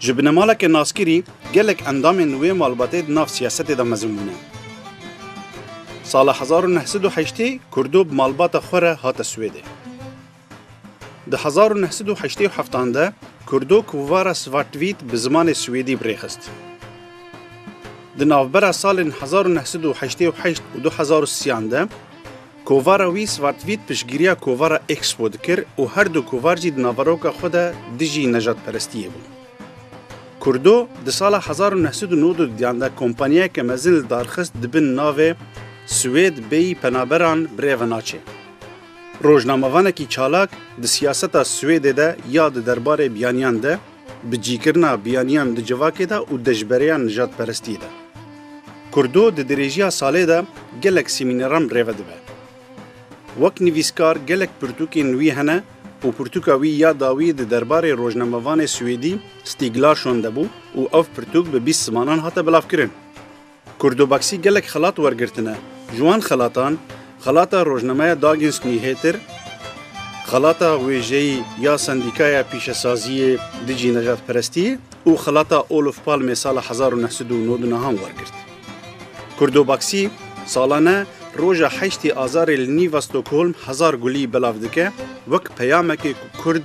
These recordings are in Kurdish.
Ji binemaleke naskirî gelek endamên wê malbatê di nav siyasetê de mezin bûne. Sala hezar û neh sed û heştê Kurdo bi malbata xwe re hate Swêdê. Di hezar û neh sed û heştê û heftan de Kurdo Kuvara Svartvît bi zimanê Swêdî bi rê xist. Di navbera salên hezar û neh sed û heştê û heşt û du hezar û siyan de, Kovara wî Svartvît piştgiriya kovara Expo dikir û her du kovar jî di naveroka xwe de dijî nejatperestiyê bûn. Kurdo di sala hezar û neh sed û nod û duyan de kompanyayeke mezin li dar xist di bin navê Swêd bêyî penaberan birêve naçê. Rojnamevanekî çalak di siyaseta Swêdê de ya di derbarê biyaniyan de, bi cîkirina biyaniyan di civakê de û dijberiya nijadperestiyê de. Kurdo di dirêjiya salê de gelek semîneran rêve dibe. Wek nivîskar gelek pirtûkên wî hene û pirtûka wî ya dawî di derbarê rojnamevanê Swêdî Stig Larsson de bû û ev pirtûk bi bîst zimanan hate bilavkirin. Kurdobaksî gelek xelat wergirtine. Ji wan xelatan, xelata rojnameya Dagens Nyheter, xelata wêjeyî ya Sendîkaya Pîşesaziyê Dijî Nejatperestî û xelata Olof Palmê sala hezar û neh sed û nod û neh an wergirt. Kurdobaksî salane roja heştê Azarê li nîva Stockholm hezar gulî belav dike wek peyamekê ku Kurd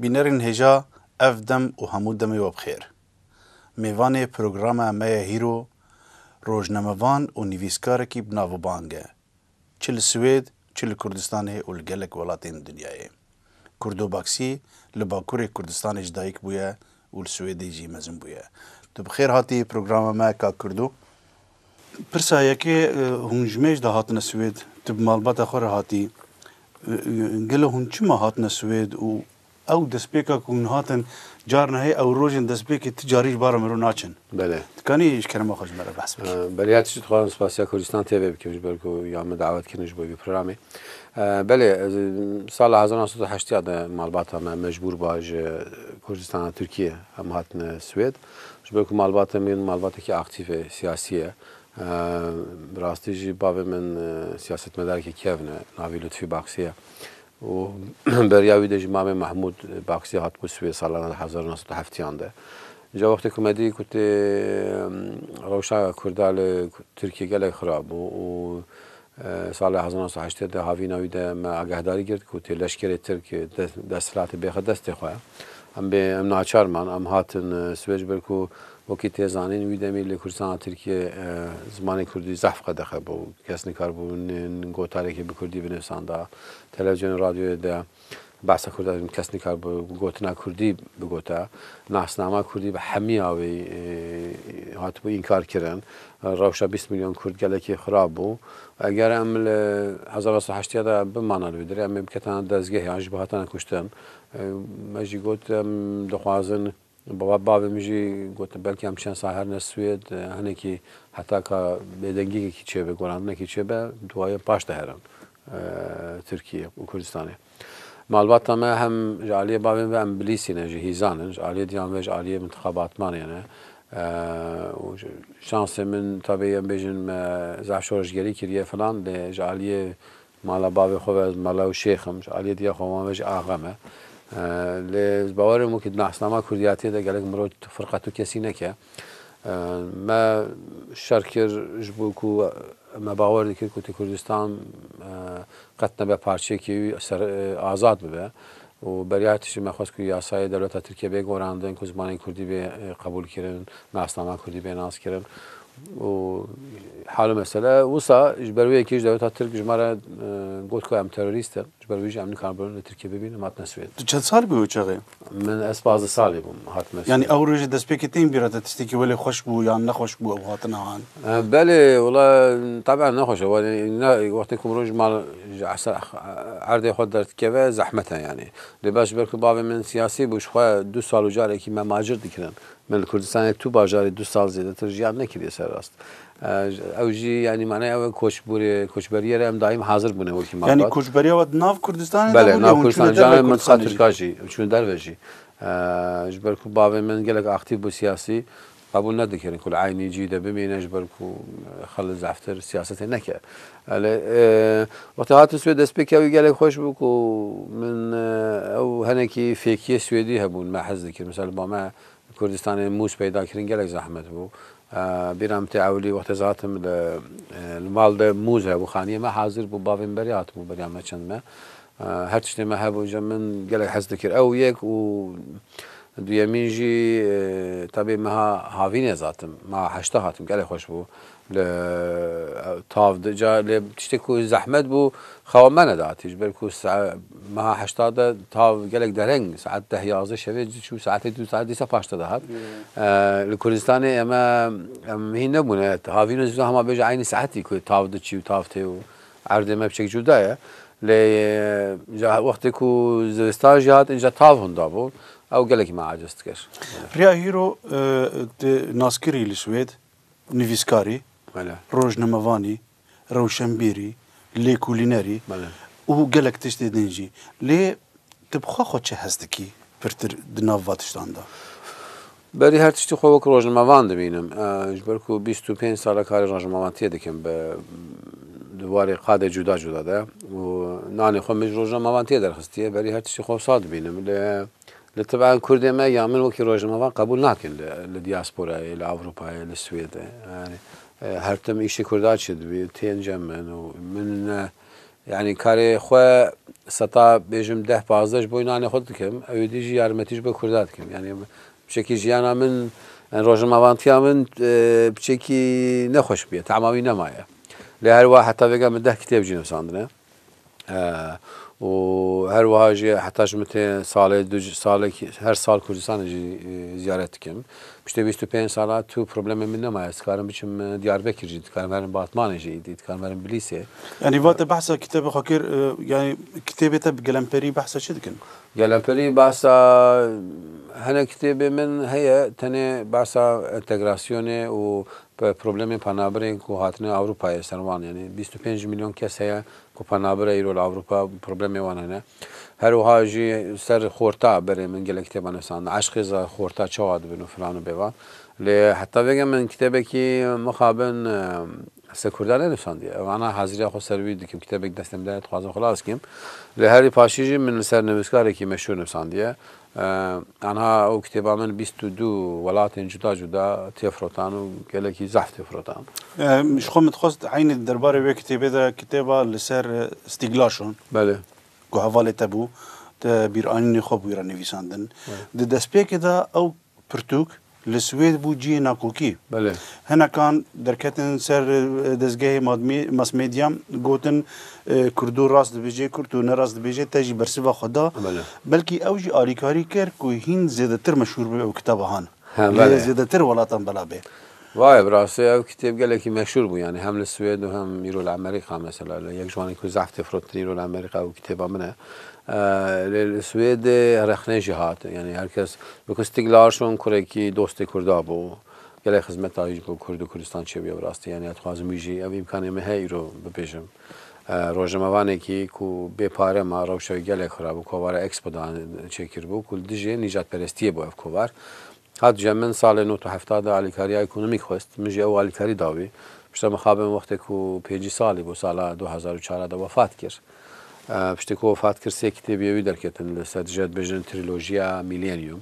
Bînerên hêja ev dem û hemû demê we bi xêr. Mêvanê programa me ye hîro, rojnamevan û nivîskarekî bi navûbang e çi li Swêd, çi li Kurdistanê û li gelek welatên dinyayê. Kurdobaksî li Bakurê Kurdistanê ji dayik bûye û li Swêdê jî mezin bûye. Tu bi xêr hatî programa me Kak Kurdo. Pirsa yekê, hûn ji mêj de hatine Swêd, tu bi malbata xwe re hatî. Gelo hûn çima hatine Swêd û Ew destpêka ku hûn hatin carna heye ew rojên destpêkê ti carî ji bar re miro naçin. Belê. Dikanî ji kerema xwe ji me re behs bikî. Belê ya tişt dixwazim spasiya Kurdistan tê vê bikim ji ber ku ya min dawet kirin ji bo vî programê. Belê sala hezar nav sed û heştî ya de malbata me mecbûr bûa ji Kurdistana Tirkiyê em hatine Swêd. Ji ber ku malbata min malbatekî aktîf e siyasî ye. Bi rastî jî bavê min siyasetmedarekî kevn e navê Lutfî Baxsî ye. û beriya wî de jî Mame Mahmûd Baksî hat ku siwê salan hezar û neh sed û heft yan de. Îja wextê ku me dî ku tê rewşa Kurda li Tirkiyê gelek xirab bû û sala hezar û neh sed û heştê de havîna wî de me agahdarî girt ku tê leşkerê Tirk desthilatê bêxe destê xwe. Em bê em naçar man. Em hatin siwê ji ber ku wekî tê zanîn wî demî li Kurdistana Tirkiyê zimanê Kurdî zehf qedexe bû. Kes nikar bû gotarekê bi Kurdî binivsanda. Televîzyonê û radyoyê de behsa kurdî de kes nikare bi gotina kurdî bigote. Nasnama kurdî bi hemiya wî hatibû înkar kirin. Rewşa bîst milyon kurd gelekî xirab bû. Eger em li hezar neh sed û heştê de bimane li wî dirê em ê biketine dezgehê an jî bihatine kuştin. Me jî got em dixwazin Bavê min jî gotin belkî em çend sal herine Swêd hinekî heta ka bêdengiyekekî çêbe, gorandinekî çêbe duwaye paş de herin Tirkiyê û Kurdistanê. Malbata me hem ji aliyê bavên ve em bilîsî ne, ji hîzan in, ji aliyê diyan ve ji aliyê mintiqa Batmanê ne û şansê min tabî em bêjin me zahşorejgerî kiriye filan lê ji aliyê Mala bavê xwe ve ez mala û şêx im, ji aliyê diya xwe wan ve jî axe me. Lê ji bawerên min ku di nasnama kurdiyatiyê de gelek mirov firqa tu kesî neke. Me şer kir ji bo ku me bawer dikir ku tu Kurdistan qet nebe parçeyekê wî azad bibe. Û beriya tişt jî me xwest ku yasayê dewleta Tirkiyê bê gorandin, ku zimanê Kurdî bê qebûlkirin, nasnama Kurdî bê naskirin û hal û mesele wisa ji ber wê yekê jî dewleta Tirk ji me re got ku em terorîst in, ji ber wî jî em nikarin li Tirkiyê bibîn, em hatine Swêd. Tu çend sal bûyî o çaxê? Min ez pazdeh salî bûm hatime Swêd. Yanî ew rojê destpêkê tên bîra te tiştekî welê xweş bû yan nexweş bû ew hatina han? Belê wala teben ne xweş e wala ne wextê ku mirov ji mal ji eser erdê xwe derdikeve zehmet e yanî. Lê beş ji ber ku bavê min siyasî bû ji xwe du sal û carekî me macir dikirin. Min li Kurdistanê tu bajarê du sal zêdetir jiyan nekiriye ser rast. Ew jî yanî manaya ew e koçbûrê koçberiyê re em daîm hazir bûne wekî malbat. Yanî koçberiya we di nav Kurdistanê de bû? Belê nav Kurdistanê canan mintiqa Tirka jî çûne derve jî. Ji ber ku bavê min gelek aktîf bû siyasî Qebûl nedikirin ku li eynî cî de bimîne ji ber ku Xalid Zaftir siyasetê neke. Elê wextê hatin Swêd destpêkîya wî gelek xweş bû ku min ew hinekî fêkîyê Swêdî hebûn me hez dikirin. Misal li ba me Kurdistanê mûz peyda kirin gelek zehmet bû. Bîra min tê ewilî wextê ez hatim li mal de mûz hebû xanîyê me hazir bû bavê min berê hatibû beriya me çend me. Her tiştê me hebû ji min gelek hez dikir ew yek û duyemîn jî tevî meha havînê zatim meha heşta hatim gelek xweş bû li tav di ca lê tiştê ku zehmet bû xewa me nedatî ji ber ku meha heşta de tav gelek dereng saet deh yazdeh şevê diçû saetê dû saet dîsa paşta dihat li Kurdistanê eme em hîn nebûne havîn û zî hema bêje eynî saetî ku tav diçî û tav tê û Erdê me biçek cuda ye. Lê ca wextê ku zivistan jî hat înca tav hunda bû. Ew gelekî me aciz dikir. Riya Hîro tu naskirî li Swêd, nivîskarî, rojnamevanî, rewşenbîrî, lêkolînerî û gelek tiştê din jî. Lê tu bi xwe xwe çi hes dikî pirtir di nav va tiştan de? Berî her tiştî xwe wek rojnamevan dibînim. Ji ber ku bîst û pênc sal e karê rojnamevantiyê dikim bi di warê qadê cuda cuda de û nanê xwe min ji rojnamevantiyê derxistiye. Berî her tiştî xwe wisa dibînim. Lê li tibean kurdê me yan min wekî rojnamevan qebûl nakin li li dîasporayê, li Ewropayê, li Swêdê. Yanî her tim îşê kurdan çi dibî tên cem min û min ne Yanî karê xwe seta bêjim deh pazdeh ji bo înanê xwe dikim, ewê dî jî yarmetî ji bo Kurda dikim. Yanî biçekî jiyana min, rojnamevantiya min biçekî nexweş bûye, tema wî nemaye. Lê her wiha heta vêga min deh kitêb jî nivîsandine û her wiha jî heta ji min tê salê du salekî her sal Kurdistanê jî ziyaret dikim. Piştî bîst û pênc sala tu problemê min nemaye. Ez dikarim biçim Diyarbekir jî, dikarim herim Batmanê jî, îdî dikarim herim Bilîsê. Yanî vate behsa kitêbê xwe kir, yanî kitêbê te bi gelemperî behsa çi dikin? Gelemperî behsa hinek kitêbê min heye, tenê behsa entegrasyonê û problemên penabirên ku hatine Ewropayê ser wan. Yanî bîst û pênc mîlyon kes heye ku penabir e îro li Ewropa, problemê wan hene. Her wiha jî ser xorta berê min gelek kitêban nivîsandin. Eşqê za xorta çawa dibin û filan û bêvan. Lê heta vêga min kitêbekî mixabin ser kurda nenivîsandiye. Vana haziriya xwe ser wî dikim. Kitêbek destê min de ye, dixwazim xilas kim. Lê herî paşî jî min li ser nivîskarekî meşhûr nivîsandiye. Tanha ew kitêba min bîst û du welatên cuda cuda tê firotan û gelekî zehf tê firotan. Ji xwe min dixwest eynî di derbarê wê kitêbê de kitêba li ser Stîglaşon Belê. ku hevalê te bû, te bîranînê xwe bi wî re nivîsandin. Di destpêkê de ew pirtûk Li Swêd bû cihê nakokî. Hinekan derketin ser dezgehê masmedya gotin Kurdo rast dibêje, Kurdo ne rast dibêje te jî bersiva xwe da. Belkî ew jî alîkarî kir ku hîn zêdetir meşhûr bibe bi kitabahan li zêdetir welatan bela bê. Vaye bi rastî ew kitêb gelekî meşhûr bû yanî hem li Swêd û hem îro li Amerîka mesela li yek ji wan in ku zehf tê firotin îro li Amerîka û kitêba min e. Lê li Swêdê rexne jî hat yanî her kes Bi ku Stiglar şon kurekî dostê Kurda bû, gelek xizmeta wî ji bo Kurd û Kurdistan çêbûye bi rastî. Yanî ez dixwazim wî jî ev îmkanê min heye îro bibêjim. Rojnamevanekî ku bê pare ma, rewşa wî gelek xirab bû. Kovara Expo da çêkiribû ku li dijî nîjadperestiyê bû ev kovar. Hat dije min salê nod û hefta de alîkariya ekonomîk xwest. Min jî ew alîkarî da wî. Pişta mixabin wextê ku pêncî salî bû sala du hezar û çar de wefat kir. Piştî ku wefat kir sê kitêb yê wî derketin li ser dijî ya dibêjin Trilojiya Mîlênîum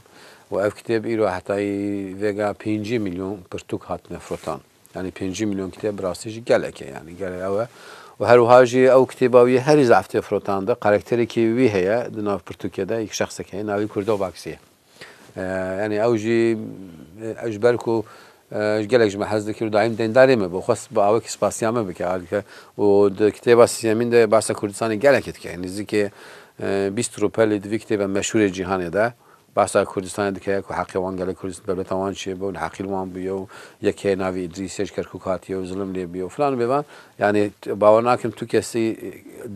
û ev kitêb îro hetayî vêga pêncî mîlyon pirtûk hatine firotan. Yanî pêncî mîlyon kitêb bi rastî jî gelek e yanî gelê ew e û her wiha jî ew kitêba wî herî zaf tê firotandin. Karakterekî wî heye di nav pirtûkê de yek şexsek heye navê Kurdo Baksî ye. Yanî ew jî ew ji ber ku ji gelek ji me hez dikir û daîm deyndarê me bû, xwest bi awekî spasiya me bike ardike û di kitêba Sîyemîn de behsa Kurdistanê gelekê dike. Nêzîkê bîst rûpelî di vî kitêba meşhûrê cîhanê de behsa Kurdistanê dike ku heqê wan gelê Kurd dewleta wan çi bû, neheqî li wan bûye û yekê navê Îdrîs ye ji Kerkûk hatiye û zilim lê bûye û filan û bêvan. Yanî bawer nakim tu kesî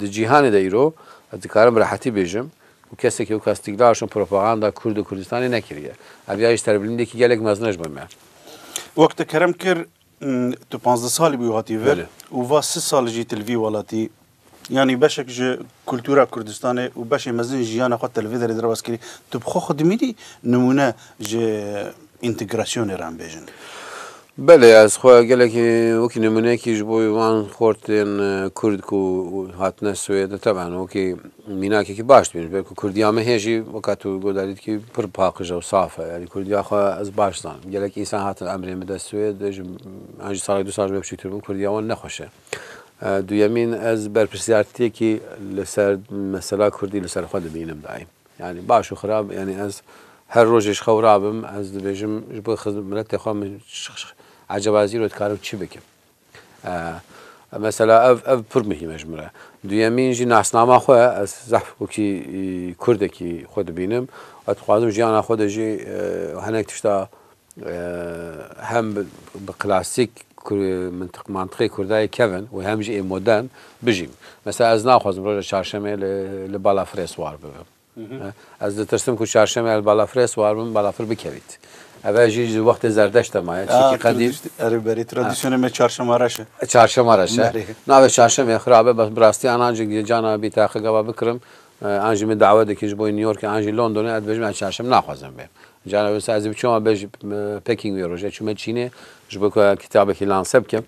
di cîhanê de îro ez dikarim bi rehetî bêjim û kesekî weka Stikla şûn propaganda Kurd û Kurdistanê nekiriye. Ev ya jî serbilindekî gelek mezin e ji bo me. Wek te kerem kir, tu pazdeh salî bûyî hatî vir Belê. û va sil sal jî tu li vî welatî yanî beşek ji kultûra Kurdistanê û beşê mezin ji jiyana xwe te li vê derê derbas kirî. Tu bi xwe xwe dimînî nimûne ji întegrasyonê re em bêjin? Belê ez xwe gelekî wekî nimûneyekî ji bo wan xortên kurd ku hatine Swêd teban wekî mînakekî baş dibînim. Ji ber ku kurdiya me hê jî weka tu goda dît kî pir paqij e û saf e. Yanî kurdiya xwe ez baş dizanim. Gelek însan hatin emrên bide Swêd ji an jî salek du sal ji ber biçûktir bûm kurdiya wan ne xweş e. Duyemîn ez berpirsiyartiyekî li ser mesela kurdî li ser xwe dibînim daîm. Yanî baş û xirab yanî ez her rojê ji xew rabim ez dibêjim ji bo miletê xwe min ecaba zîro dikarim çi bikim. Mesela ev ev pir muhîm e ji min re. Duyemîn jî nasnama xwe ez zehf wekî kurdekî xwe dibînim ez dixwazim jiyana xwe de jî hinek tişta hem bi klasîk mintiqê kurdayê kevin û hem jî ê modern bijîn. Mesela ez naxwazim roja çarşemê li balafirê siwar bibim. Ez ditirsim ku çarşemê li balafirê siwar bibim, balafir bikevît. Ev jî ji wextê zerdeşt de maye. Çimkî qedîm. Erê berê tradisyonê me çarşema reş e. Çarşema reş e. Navê çarşemê xirab e bes bi rastî an an jî cana bî teqe gava bikirim an jî min dawe dikin ji bo New Yorkê an jî Londonê ez dibêjim ez çarşemê naxwazim bêm. Carna wisa ez ê biçûm a bej packing wê roja çûme Çînê ji bo ku kitabekî lanse bikim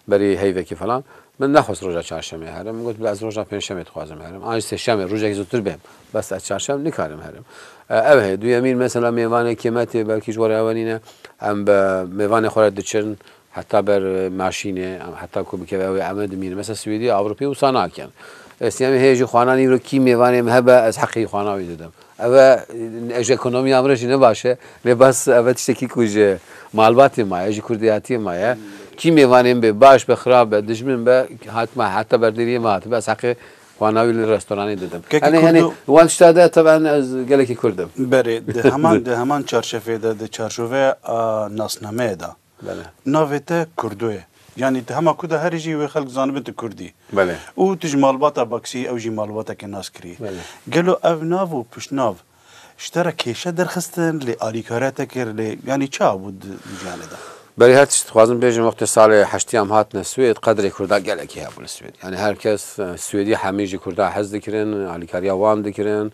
berî heyvekî falan. Min nexwest roja çarşemê herim. Min got ez roja pênçemê dixwazim herim. An jî sêşemê rojekî zûtir bêm. Bes ez çarşem nikarim herim. Ev heye. Duyemîn mesela mêvanekê me tê belkî ji we re ewenîne. Em bi mêvanê xwe re diçin. Heta ber maşînê heta ku bikeve ew ê eme dimîne. Mesela Swêdî, Ewropî wisa nakin. Ez sîyamê heye jî xwana nîro kî mêvanê min hebe ez heqê xwana wî didim. Ev e ji ekonomiya min re jî ne baş e lê bes ev e tiştekî ku ji malbatê ma ye, ji kurdiyatiyê ma ye. Kî mêvanê min bê baş be, xirab be, dijmin be hatime heta ber deriyê min hatibe ez heqê xwana wî li restoranê didim. Gelekî kurd o? Wan tişta de teben ez gelekî kurd im. Berê di heman di heman çarçefê de di çarçoveya nasnameyê de. Belê. Navê te Kurdo ye. Yanî tu hema ku de herî jî wê xelk zanibin tu Kurd î. Belê. Û tu ji malbata Baksî ew jî malbatekê nas kirî. Belê. Gelo ev nav û piştnav ji te re kêşe derxistin lê alîkariya te kir lê yanî çawa bû di jiyanê de? Belê her tişt dixwazim bêjim wextê salê heştî em hatine Swêd qedrê Kurda gelekî hebû li Swêd. Yanî her kes Swêdî hemî ji Kurda hez dikirin, alîkariya wan dikirin,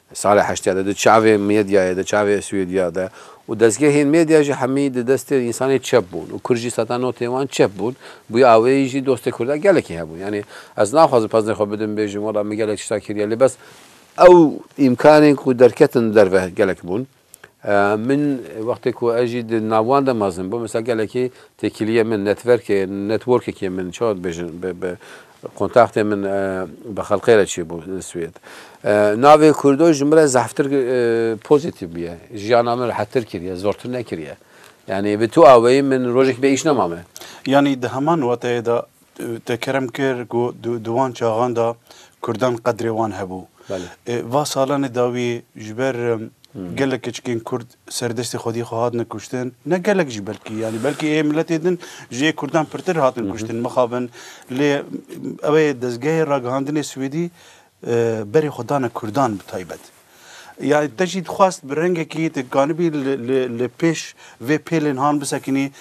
Di sala heştê de di çavê medyayê de, çavê Swêdya de û dezgehên medya jî hemî di destê însanê çep bûn û kurd jî seta notên wan çep bûn. Bûye aweyî jî dostê kurda gelekî hebûn. Yanî ez naxwazim peznê xwe bidim bêjim wela min gelek tişta kiriye lê bes ew îmkanên ku derketin derve gelek bûn. Min wextê ku ez jî di nav wan de mezin bûm, mesela gelekî têkiliyên min, netverkê, networkekê min, çawa dibêjin, bi bi kontaktên min bi xelqê re çêbû li Swêd. Navê Kurdo ji min re zehftir pozîtîf bûye. Jiyana min rehettir kiriye, zortir nekiriye. Yanî bi tu awayî min rojekî bê îş nemame. Yanî di heman wateyê de Te kerem kir ku di wan çaxan de Kurdan qedrê wan hebû. Va salanê dawî ji ber gelek keçikên Kurd serdestê xwediyê xwe hatine kuştin. Ne gelek jî belkî yanî belkî ê miletê din ji ê Kurdan pirtir hatin kuştin mixabin. Lê ew ê dezgehê ragihandinê Swêdî Berê xwe dane Kurdan bi taybet. Ya te jî dixwest bi rengekî dikanibî li pêş vê pêlên han bisekinî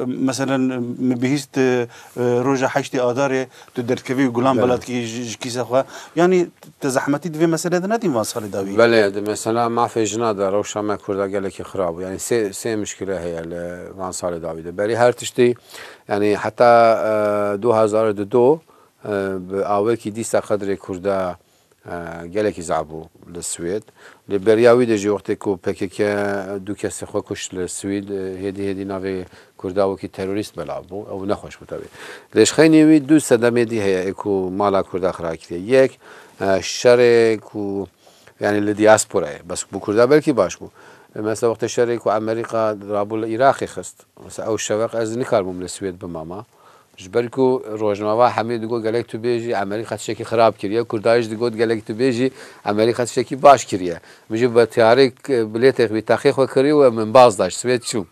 meselen min bihîst roja heştê adarê tu derdkevî û gulan bela dikî ji kîsa xwe yanî te zehmetî di vê meselê de nedîn van salê dawî. Belê di mesela mafê jina de rewşa me kurda gelekî xirab bû yanî sê mişkile heye li van salê dawî de berî her tiştî yanî heta du hezar û du Bi awekî dîsa qedrê Kurda gelekî zaf bû li Swêd. Lê beriya wî de jî wextê ku pkk du kesê xwe kuşt li Swîd, hêdî hêdî navê Kurda wekî terorîst belav bû. Ew nexweş bû tevî. Lê ji xeynî wî du sedemê dî heye ê ku mala Kurda xira kiriye. Yek şerê ku yanî li dîasporayê bes bo Kurda belkî baş bû. Mesela wextê şerê ku Amerîka rabû li Îraqê xist. Mesela ew şeveq ez nikarbûm li Swêd bimama. Ji ber ku rojnava hemê digot gelek tu bêjî Amerîka tiştekî xirab kiriye, Kurda jî digot gelek tu bêjî Amerîka tiştekî baş kiriye. Min jî bi tiyareyek bilêtê wî teqê xwe kirî û min baz da ji Swêd çûm.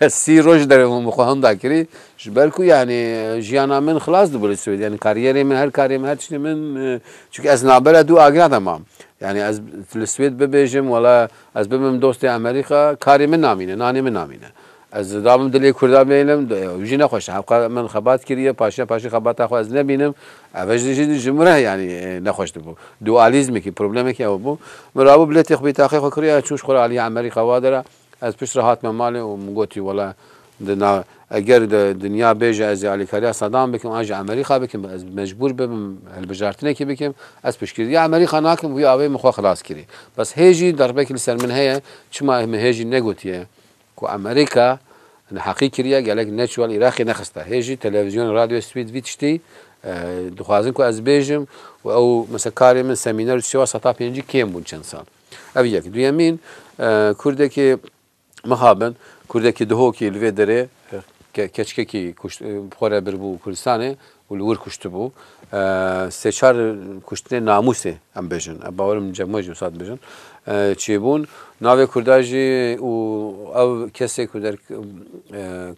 Ez sî roj li derê hûn bi xwe hûn da kirî. Ji ber ku yanî jiyana min xilas dibû li Swêd. Yanî karîyerê min, her karê min, her tiştê min çunke ez navbera du agirê de mam. Yanî ez li Swêd bibêjim wela ez bibim dostê Amerîka karê min namîne, nanê min namîne. Ez dabim dilê kurdan bênim ew jî nexweş e. Hevqe min xebat kiriye paşiya paşî xebata xwe ez nebînim. Ev jî jî ji min re yanî nexweş dibû. Dualîzmekî problemekî ew bû. Min rabû bilêtê xwe bîtaqê xwe kiriye ez çûm ji xwe re aliyê Emerî qewade re. Ez pişt re hatime malê û min gotî wele di na eger di dinya bêje ez ê alîkariya Sadam bikim an jî Emerîka bikim ez mecbûr bibim hilbijartinekî bikim ez piştgiriya Emerîka nakim wî awê min xwe xilas kirî. Bes hê jî derbekî li ser min heye çima min hê jî negotiye Ku Amerîka neheqî kiriye, gelek neçû li Iraqê nexiste hê jî televîzyonê radyoyê spî di vî tiştî dixwazin ku ez bêjim û ew mesela karê min semîner û çi wa seta pêncî kêm bûn çend sal. Ev yek. Duyemîn kurdekî miha bin, kurdekî dihokî li vê derê ke keçikekî kuşt xwe re birbû Kurdistanê û li wir kuştibû. Sê çar kuştinên namûsê em bêjin, ev bawer im cem we jî wisa dibêjin, çêbûn. Navê kurda jî û ew kesê ku der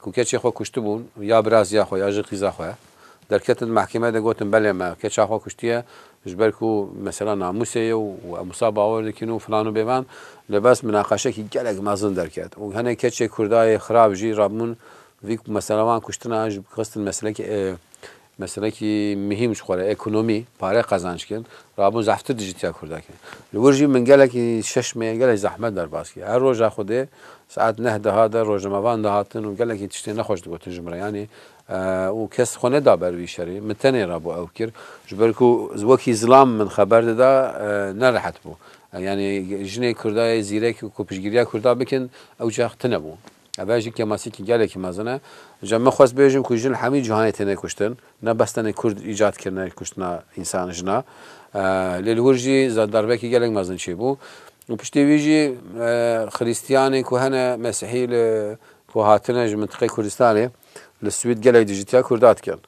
ku keçê xwe kuştibûn ya biraziya xwe ya jî qîza xwe ye. Derketin di mehkemeyê de gotin belê me keça xwe kuştiye ji ber ku mesela namûsê ye û em wisa bawer dikin û filan û bêvan. Li bes minaqeşekî gelek mezin derket û hinek keçê kurdayê xirab jî rabûn Vî ku mesela wan kuştina ji xistin meselekî meselekî mihîm ji xwe re ekonomî, pare qezanc kirin, rabûn zehftir dijîtiya Kurda kir. Li wir jî min gelekî şeş meyên gelekî zehmet derbas kir. Her roja Xwedê saet neh diha der rojnamevan dihatin û gelekî tiştên nexweş digotin ji min re. Yanî û kes xwe neda ber vî şerî. Min tenê re bo ew kir. Ji ber ku wekî zilam min xeber dida nerehet bû. Yanî jinê Kurda yê zîrek ku piştgiriya Kurda bikin ew çax tune bû. Ev jî kemasikî gelekî mezin e. Îca min xwest bêjim ku jin li hemî cîhanê têne kuştin. Ne bes tenê kurd îcad kirine kuştina însan jina. Lê li wir jî darbeyekî gelek mezin çêbû. Û piştî wî jî xirîstiyanê ku hene, mesîhî li ku hatine ji mintiqeyê Kurdistanê Li Swîd gelek dijîtiya Kurda dikin.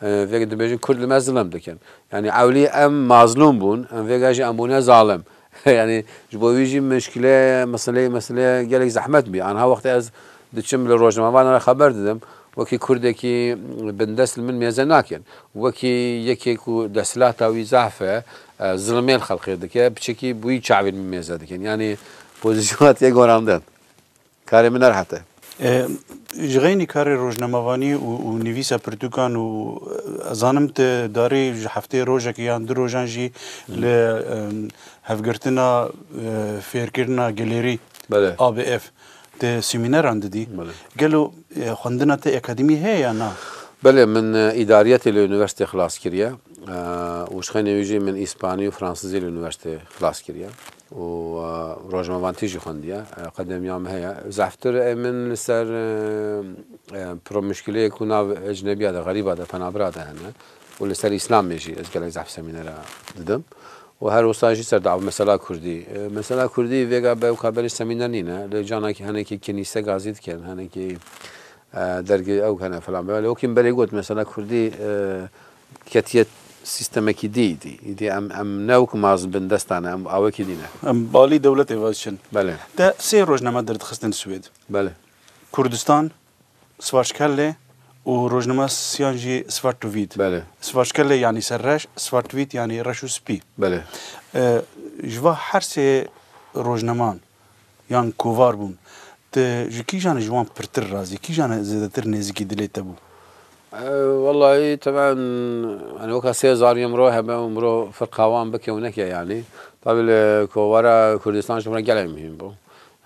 Vê ke dibêjin Kurd li me zilm dikin. Yanî ewlî em mazlûm bûn, em vêga jî em bûne zalim. Yanî ji bo wî jî muşkile meseleyê mesele gelek zehmet bî. Anha wextê ez diçim li rojnamevanan re xeber didim, wekî Kurdekî bindest li min mêze nakin. Wekî yekê ku desthilata wî zehf e, zilmê li xelkê dike, piçekî bi wî çavên min mêze dikin. Yanî pozîsyona te gorandin. Karê min erhat e. Ji xeynî karê rojnamevanî û nivîsa pirtûkan û ez zanim tu darê ji hefteyê rojekê yan du rojan jî li Hevgirtina Fêrkirina Gelêrî, ABF, tu semîneran didî. Gelo xwendina te akademî heye yan na? Belê, min îdariyetê li unîversîtê xilas kiriye û ji xeynê wî jî min îspanî û fransizî li unîversîtê xilas kiriye. û rojnamevantî jî xwendiye qedemiya min heye zehftir ê min li ser pro muşkileyê ku nav ecnebiya de xerîba de penabira de hene û li ser îslamê jî ez gelek zehf semînera didim û her wisa jî ser dawa mesela kurdî mesela kurdî vêga bewka berî semîner nîne lê canekî henekî kenîse gazî dikin henekî dergê ew hene filan belê wekî min berê got mesela kurdî Ketiye sîstemekî dî dî. Îdî em em ne wek ma ji bin dest dane em awekî dî ne. Em balî dewletê ve diçin. Belê. Te sê rojname derdixistin Swêd. Belê. Kurdistan, Svartskellê û rojname siyan jî Svartvitt. Belê. Svartskellê yanî ser reş, Svartvitt yanî reş û spî. Belê. Ji va her sê rojnaman Yan kovar bûn. Tu ji kîjan e ji wan pirtir razî? Kîjan e zêdetir nêzîkî dilê te bû? Wellahî temen yanî weka sê zanî mro hebe û mro firqa wan bike û neke yanî. Tabî li kovara Kurdistan ji min re gelek muhîm bû.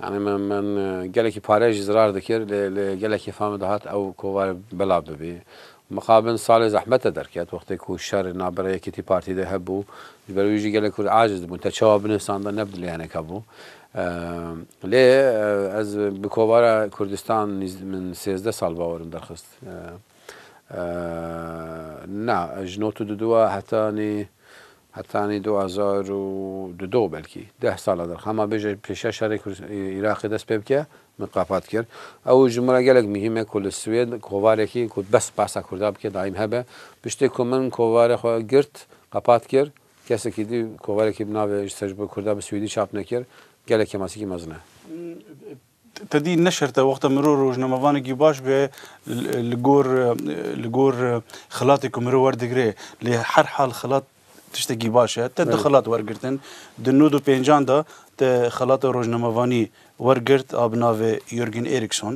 Yanî min min gelekî pare jî zirar dikir lê lê gelekî fam dihat ew kovar belav bibî Mixabin salê zehmete derket, wextê ku şer li navbera Yekîtî Partî de hebû, ji ber wî jî gelek Kurd aciz dibûn, te çawa binê sandan ne bi dilê hinek hebû. Lê ez bi kovara Kurdistan min sêzdeh sal bawer im derxist. Na, ji not û duduwa heta nê Hetanî du hezar û du do belkî deh sala dir xema bêje pêşiya şerê Îraqê dest pê bike min qapat kir. Ew ji min re gelek muhîm e ku li Swêd kovarekî ku bes basa Kurda bike daîm hebe. Piştê ku min kovarê xwe girt qapat kir kesekî dî kovarekî bi navê Ji ser ji bo Kurda bi Swêdî çap nekir gelek kemasikî mezin e. Tedî ne şert e wexta mirov rojnamevanekî baş be li gor li gor xilatê ku mirov werdigire. Lê her hal xilat tiştekî baş e. Te du xilat wergirtin. Di nod û pêncan de te xelata rojnamevanî wergirt a bi navê Jürgen Eriksson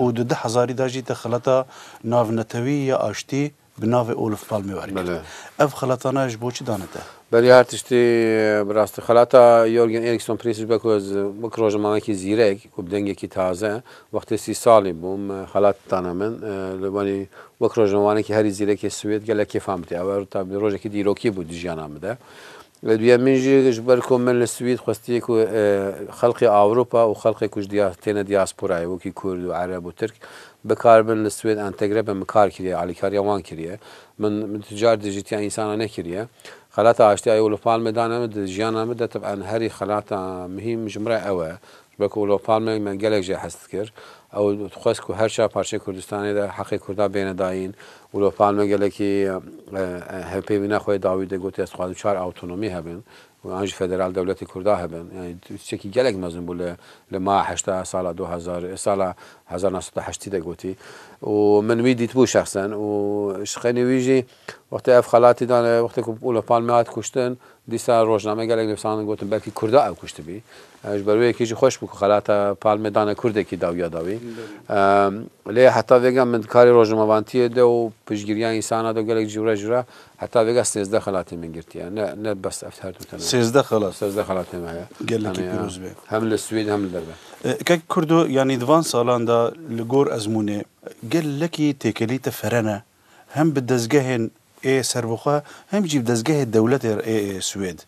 û di du hezarî de jî te xelata navnetewî ya aştî, Bi navê Olof Palme wergirt. Ev xelatana ji bo çi dane te? Belê her tiştê bi rastî. Xelata Jorgen Eriksson Prince ji ber ku ez wek rojnamavekî zîrek û bi dengekî taze wextê sî salî bûm xelat dana min. Li wanî wek rojnavanekî herî zîrekê Swêd gelek kêfan bidî. Ew rojekî dîrokî bû di jiyana min de. Li duyemîn jî ji ber ku min li Swîd xwestiye ku xelkê Ewropa û xelkê ku ji têne diasporayê wekî Kurd û Ereb û Tirk bi kar bin li Swêd entegre bin min kar kiriye alîkariya wan kiriye. Min tu car dijîtiya însanan nekiriye. Xelata aştî Eyolûf Palme dane min di jiyana min de tib'an herî xelata muhîm ji min re ew e. Ji ber ku Olof Palme me gelek jê hest dikir. Ew dixwest ku her çar parçeyên Kurdistanê de heqê Kurdan bêne dayîn. Olof Palme gelekî hevpeyvîna xwe yê dawî de gotiye ez dixwazim çar awtonomî hebin û an jî federal dewletê Kurdan hebin. Yanî tiştekî gelek mezin bû li li maha heşta sala du hezar sala hezar nav sed û heştî de gotî û min wî dîtibû şexsen û ji xenê wî jî Wextê ev xelatî dane, wextê ku Olof Palme hat kuştin, dîsa rojname gelek nivîsandin gotin belkî kurda ew kuştibî. Ji ber wê yekê jî xweş bû ku xelata Palme dane kurdekî dawiya da wî. Lê heta vêga min di karê rojnamevantiyê de û piştgiriya însana de û gelek cî re jî re heta vêga sêzdeh xelatên min girtiye. Ne ne bes ev her du tene ye. Sêzdeh xelat? Sêzdeh xelatên me heye. Gelekî pîroz be. Hem li Swêd hem li derve. Kek kurdo yanî di van salan de li gor ezmûnê gelekî têkilî te ferene. hem bi dezgehên ê serbixwe hem jî bi dezgehê dewletê re ê Swêd.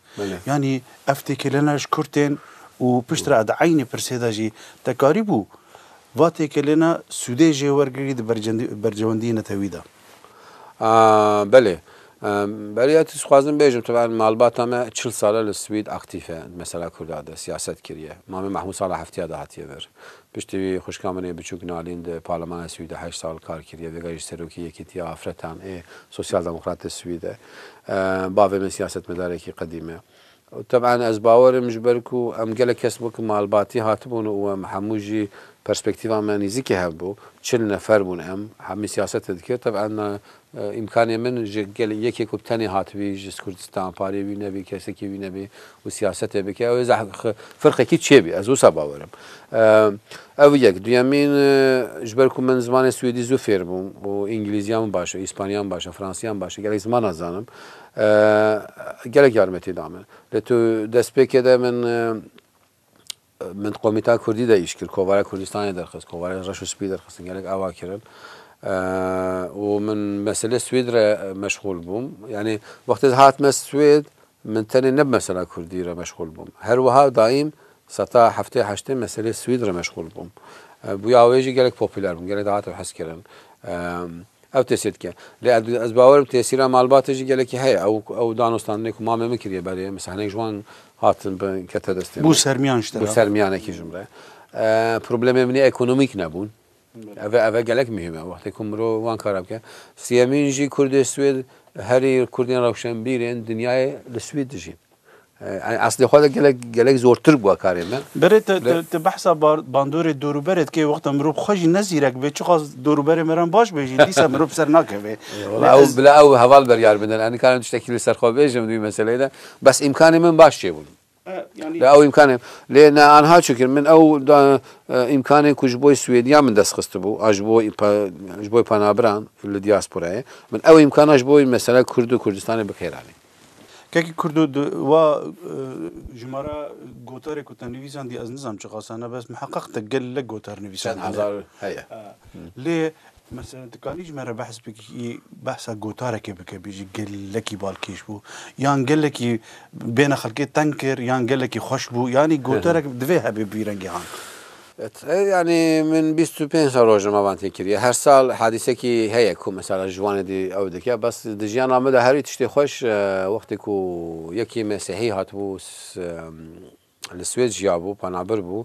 Yanî ev têkilêna ji kurt tên û piştre di eynî pirsê de jî te karîbû va têkilêna sûdê jê wergirî di berjewendiyê netewî de? Belê. Beriya tu dixwazim bêjim taban malbata me çil sal e li Swêd aktîf e di mesela kurda de siyaset kiriye. Mame Mehmûd sala heftiya de hatiye vir. Piştî wî xwişka min ê biçûk Nalîn di Parlemana Swîd de heşt sal kar kiriye, vêga jî serokê Yekîtiya Afretan ê Sosyal Demokratê Swîd e. Bavê min siyasetmedarekî qedîm e. Teb'an ez bawer im ji ber ku em gelek kes bûn ku malbatî hatibûn û em hemû jî perspektîva me nîzikê hev bû. Çil nefer bûn em, hemî siyasetê dikir. Teb'an Îmkanê min ji gelê yekê ku bi tenê hatibî ji Kurdistan, parê wî nebî, kesekî wî nebî û siyasetê bike, ew ê zehf firqekî çêbî. Ez wisa bawer im. Ev yek. Duyemîn, ji ber ku min zimanê swêdî zû fêr bûm û îngilîziya min baş e, îspanyaya min baş e, fransîya min baş e, gelek ziman dizanim. Gelek yarmetî da min. Lê tu destpêkê de min. Min di komîta kurdî de îş kir, kovara Kurdistanê derxist, kovarên reş û spî derxistin, gelek ava kirin. Û min meselê Swêd re meşxûl bûm. Yanî wextê hatime Swêd, min tenê ne bi mesela kurdî re meşxûl bûm. Her wiha daîm seta heftê heştê meselê Swêd re meşxûl bûm. Bûya wê jî gelek popûler bûm, gelek dihate hezkirin. Ew tesîr dike. Lê ez ez bawer im tesîra malbatê jî gelekî heye. Ew ew danûstandinê ku mamê min kiriye berê min hinek ji wan hatin bi kete destê min. Bû sermiyan ji te re. Bû sermiyanekî ji min re. Problemê min ê ekonomîk nebûn. Ev e ev e gelek muhîm e. Wextê ku mirov wan kara bike. Sêyemîn jî kurdê Swêd herî kurdên rewşenbîrên dinyayê li Swêd dijîn. Yani aslê xwe de gelek gelek zortir bûa karê me. Berê te te te behsa bandorê dorûberê dikê wexta mirov xwe jî ne zîrek bê çiqas dorûberê me re baş bê jî dîsa mirov ser nakevê. Wala ew bila ew heval beryar bidin em nikarim tiştekî li ser xwe bêjim di meseleyê de bes îmkanê min baş çêbûn. Lê ew îmkanê lê ne anha çikir min ew îmkanê ku ji bo Swêdiya min dest xistibû a ji bo ji bo penabiran li diasporayê min ew îmkana ji bo mesela Kurd û Kurdistanê bikêranîm. Kekê Kurdo di wa jimara gotarê ku te nivîsan dî ez nizanim çi qasa ne bes miheqeq te gelek gotar nivîsan hene. Çend hezar heye. Lê Mesela tu kanî ji me re behs bikî behsa gotarekê bike bêjî gelekî balkêş bû yan gelekî bêhna xelkê teng kir yan gelekî xweş bû yanî gotarek divê hebê bi vî rengî han. Yanî min bîst û pênc sal roj li malban tê kiriye. Her sal hadîsekî heye ku mesela ji wanê dî ew dike. Bes di jiyana min de herî tiştê xweş wextê ku yekî mesîhî hatibû li Swêd jiyabû, penabir bû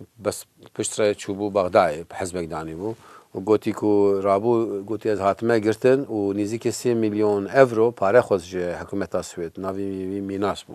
û bes pişt re çûbû Bexdayê bi hizbek danîbû û gotî ku rabû gotî ez hatime girtin û nîzîkê sê mîlyon ewro pare xwest ji hikûmeta Swêd. Navê wî Minas bû.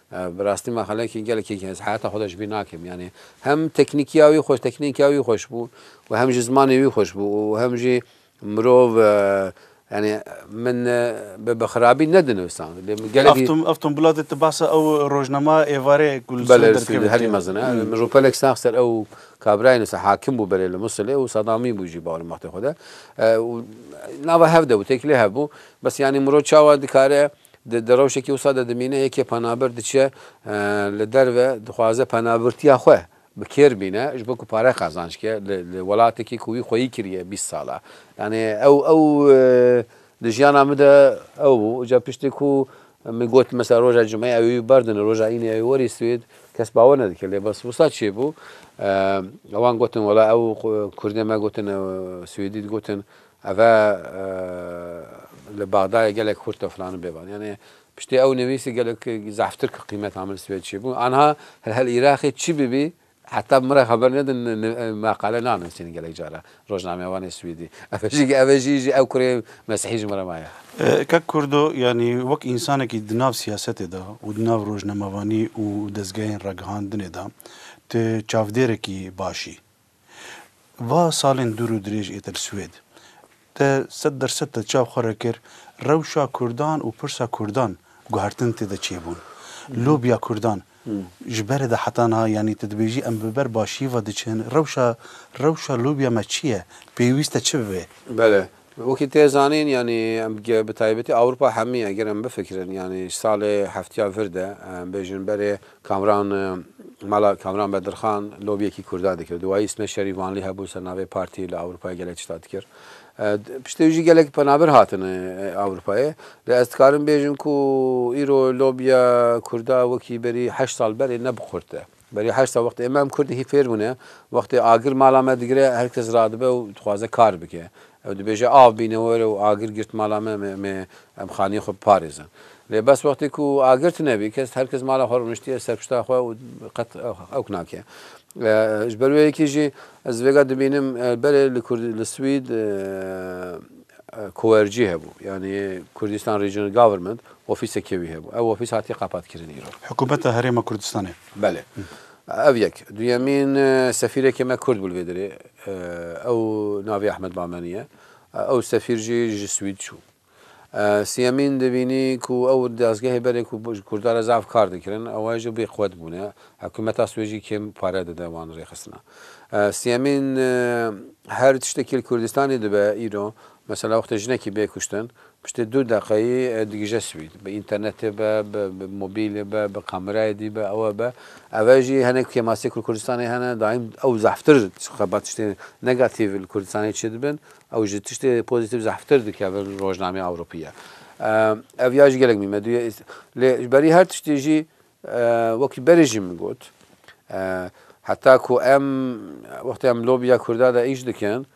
Bi rastî me xelekî gelekî yekî ez heyata xwe de ji bîr nakim. Yanî hem teknîkiya wî xweş teknîkiya wî xweş bû û hem jî zimanê wî xweş bû û hem jî mirov yanî min bi bi xirabî ne dinivisand. Lê min gelekî. Ev ev tombola de tu behsa ew rojnama êvarê ku li Sûrê derkeve dikeve. Herî mezin e. Min rûpelek sax ser ew kabirayê nivîsa hakim bû berê li Musilê û Sadamî bû jî bawrim wextê xwe de. Nava hev de bû têkilê hev bû. Bes yanî mirov çawa dikare Di rewşekî wisa de dimîne yekê penabir diçe li derve dixwaze penabirtiya xwe bi kêr bîne ji bo ku pare qazanc ke li welatekî ku wî xweyî kiriye bîst sal e. Yanî ew ew di jiyana min de ew bû. Îca piştî ku min got mesela roja cumeyê ew ê wî berdine roja înê ew ê werî Swêd kes bawer nedike lê bes wisa çêbû ewan gotin wela ew kurdê me gotin ew swêdî digotin Ev e li Bexdayê gelek xurt e filan û bêvan. Yanî piştî ew nivîsî gelek zehftir kir qîmet Amil Swêd çi bû. Anha hil Îraqê çi bibî heta min re xeber nedin meqale nanivîsîn gelek cara rojnamevanê swîdî. Ev e jî ev e jî jî ew kurê mesihî ji min re maye. Kak Kurdo yanî wek însanekî di nav siyasetê de û di nav rojnamevanî û dezgehên ragihandinê de tu çavdêrekî baş î. Va salên dûr û dirêj êtir Swêd de sed der sed de çav xwe re kir rewşa Kurdan û pirsa Kurdan guhertin tê de çêbûn. Lobiya Kurdan ji berê de heta niha yanî tu dibêjî em bi ber başiyê ve diçin rewşa rewşa lobiya me çi ye? Pêwîste çi bibe? Bele, Wekî tê zanîn yanî bi taybetî Ewropa hemî eger em bifikirin yanî ji salê heftiya vir de em bêjin berê Kamran mala Kamran Bedirxan lobiyekî Kurdan dikir. Dûwayî Îsmet Şerîf Vanlî hebû ser navê partî li Ewropayê gelek tişta dikir. Piştî wî jî gelek penabir hatin Ewropayê. Lê ez dikarim bêjim ku îro lobiya Kurda wekî berî heşt sal berê ne bi qurt e. Berî heşta wextê em em Kurd hî fêr bûne, wextê agir mala me digire her kes radibe û dixwaze kar bike. Ew dibêje av bîne were û agir girt mala me, em ê em xaniyê xwe biparêzin. Lê bes wextê ku agir tune bî kes her kes mala xwe rûniştiye ser pişta xwe û qet ewk nake. Ji ber wê yekê jî ez vêga dibînim berê li Kurd li Swîd Koerci hebû yanî Kurdistan Regional Government Ofîsekê wî hebû. Ew ofîs hatiye qapatkirin îro. Hikûmeta Herêma Kurdistanê. Belê. Ev yek. Duyemîn, sefîrekê me Kurd bû li vê derê. Ew navê Ahmed Bamenî ye. Ew sefîr jî ji Swîd çû. Siyemîn dibînî ku ew dazgehê berê ku ji Kurdan re zaf kar dikirin, ew jî bêqwet bûne. Hikûmeta Swêcî kêm pare dide wan rêxistina. Siyemîn, her tiştekî li Kurdistanê dibe îro Mesela wextê jinekî bê kuştin, piştê du deqeyî digije swîd. Bi înternetê be, bi mobîlê be, bi kamerayê dî be, ewe be. Eve jî hinek kêmasiyek li Kurdistanê hene, daîm ew zehftir xebat tiştên negatîv li Kurdistanê çêdibin, ew ji tiştê pozîtîv zehftir dikevin rojnameyê Ewropî ye. Ev ya jî gelek mîmedu ye. Lê ji berî her tiştî jî wekî berê jî min got, heta ku em wextê em lobiya Kurda de îş dikin,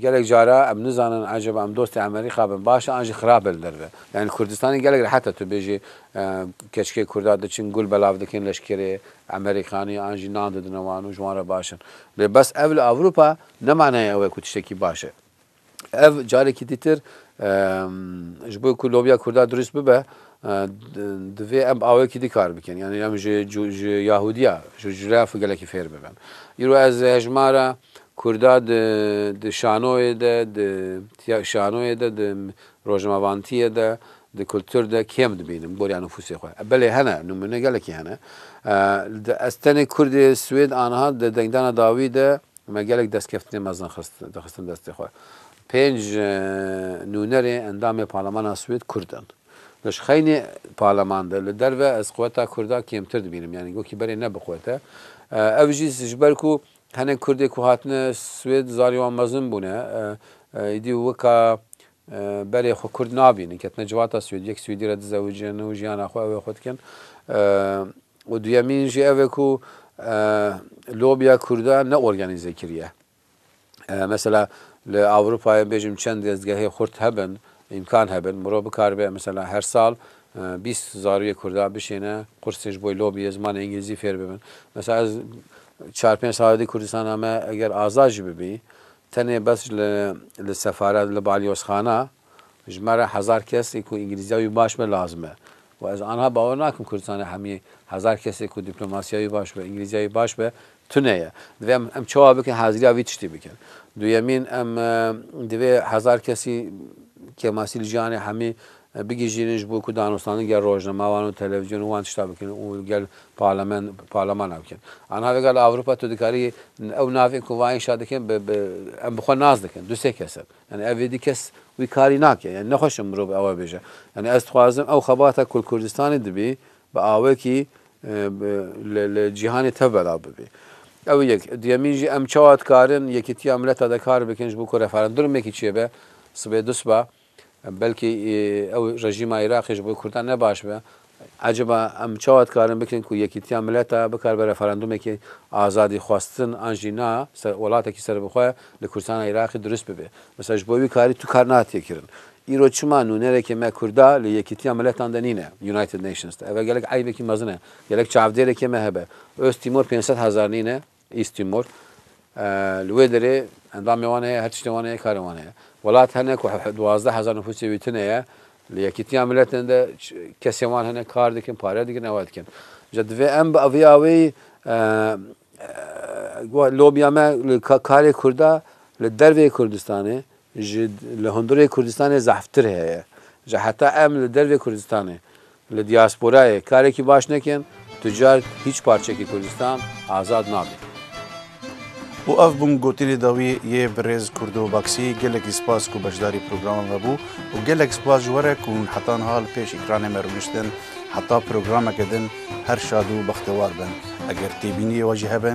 Gelek cara em nizanin ecaba em dostê Emerîka bin baş e an jî xirab e li derve. Yanî Kurdistanê gelek rehet e tu bêjî keçikê Kurda diçin gul belav dikin leşkerê Emerîkanî an jî nan didine wan û ji wan re baş in. Lê bes ev li Ewropa ne manayê ew e ku tiştekî baş e. Ev carekî dîtir ji bo ku lobiya Kurda dirûst bibe divê em bi awayekî dî kar bikin. Yanî em ji Yahûdiya, ji Jûrev gelekî fêr bibin. Îro ez hejmara Kurda di di şanoyê de, di tiya şanoyê de, di rojnamavantiyê de, di kultur de kêm dibînim boriya nufusê xwe. Belê hene, nimune gelekî hene. Di ez tenê kurd ê Swêd aniha di dengdana dawî de me gelek destkeftinê mezin xist dixistin destê xwe. Pênc nûnerê endamê parlemana Swêd kurd in. Li ji xeynê parleman de li derve ez quweta kurda kêmtir dibînim. Yanî gokî berê ne bi quwete. Ev jî ji ber ku Hinek Kurdê ku hatine Swêd zarê wan mezin bûne. Îdî wika berê xwe Kurd nabînin. Ketine civata Swêdî. Yek Swêdî re dizewicin û jiyana xwe ew ê xwe dikin. Û duyemîn jî ev e ku lobya Kurdan ne organîze kiriye. Mesela li Ewropayê bêjim çend dezgehê xurt hebin, îmkan hebin, mirov bikaribe mesela her sal Bîst zarokê kurdî bişêne, qursên ji bo lobîyê zimanê îngilîzî fêr bibin. Mesela ez çar pênc sal di Kurdistan de me eger azad jî bibî tenê bes li li sefaret li balyozxana ji me re hezar kes ê ku îngilîzîya wî baş be lazim e û ez anha bawer nakim Kurdistanê hemî hezar kesê ku dîplomasîya wî baş be îngilîzîya wî baş be Tune ye. Divê em em çawa bikin haziriya vî tiştî bikin. Duyemîn em divê hezar kesî kêmasî li jiyanê hemî bigihîjînin ji bo ku danûstandin gel rojnamewan û televîzyon û wan tişta bikin û gel parlament parlamana bikin. A niha vêga li Ewropa tu dikarî ew navên ku va înşa dikin bi bi em bi xwe nas dikin. Du sê kes in. Yanî ev êdî kes wî karî nake. Yanî nexweş in mirov ew bêje. Yanî ez dixwazim ew xebata ku li Kurdistanê dibî bi awekî li cîhanê tevbera bibe. Ew yek. Duyemîn jî em çawa dikarin Yekîtiya Mileta de kar bikin ji bo ku referendurmekî çêbe sibê du siba belkî ew rejîma Iraqê ji bo Kurdan ne baş be. Eciba em çawa dikarin bikin ku Yekîtiya Mileta bikare be referendumekî azadîxwestin an jî na welatekî serbixwe li Kurdistana Iraqê dirust bibe. Mesela ji bo wî karî tu kar natê kirin. Îro çima nûnerekê me Kurda li Yekîtiya Miletan de nîne, United Nations de? Ev e gelek eybekî mezin e. Gelek çavdêrekê me hebe. Ost Tîmor pênc sed hezar nîne, East Timor. Li wê derê endamê wan heye, her tiştê wan heye, karê wan heye. Welat hene ku duwazdeh hezar nifûsê wî tune ye. Li Yekîtiya Miletan de kesên wan hene, kar dikin, pare dikin, ew dikin. Îja divê em bi vê aweyî lobiya me li karê Kurda li derveyî Kurdistanê, Ji li hundirê Kurdistanê zehftir heye. Ji heta em li dervê Kurdistanê, li diasporayê karekî baş nekin, tu car hîç parçekî Kurdistan azad nabe. Û ev bûn gotinê dawî yê birêz Kurdo Baksî. Gelekî spas ku beşdarî programê me bû û gelek spas ji we re ku hûn heta niha li pêş ekranê me rûniştin. Heta programeke din her şad û bextewar bin. Eger têbîniyê we jî hebe.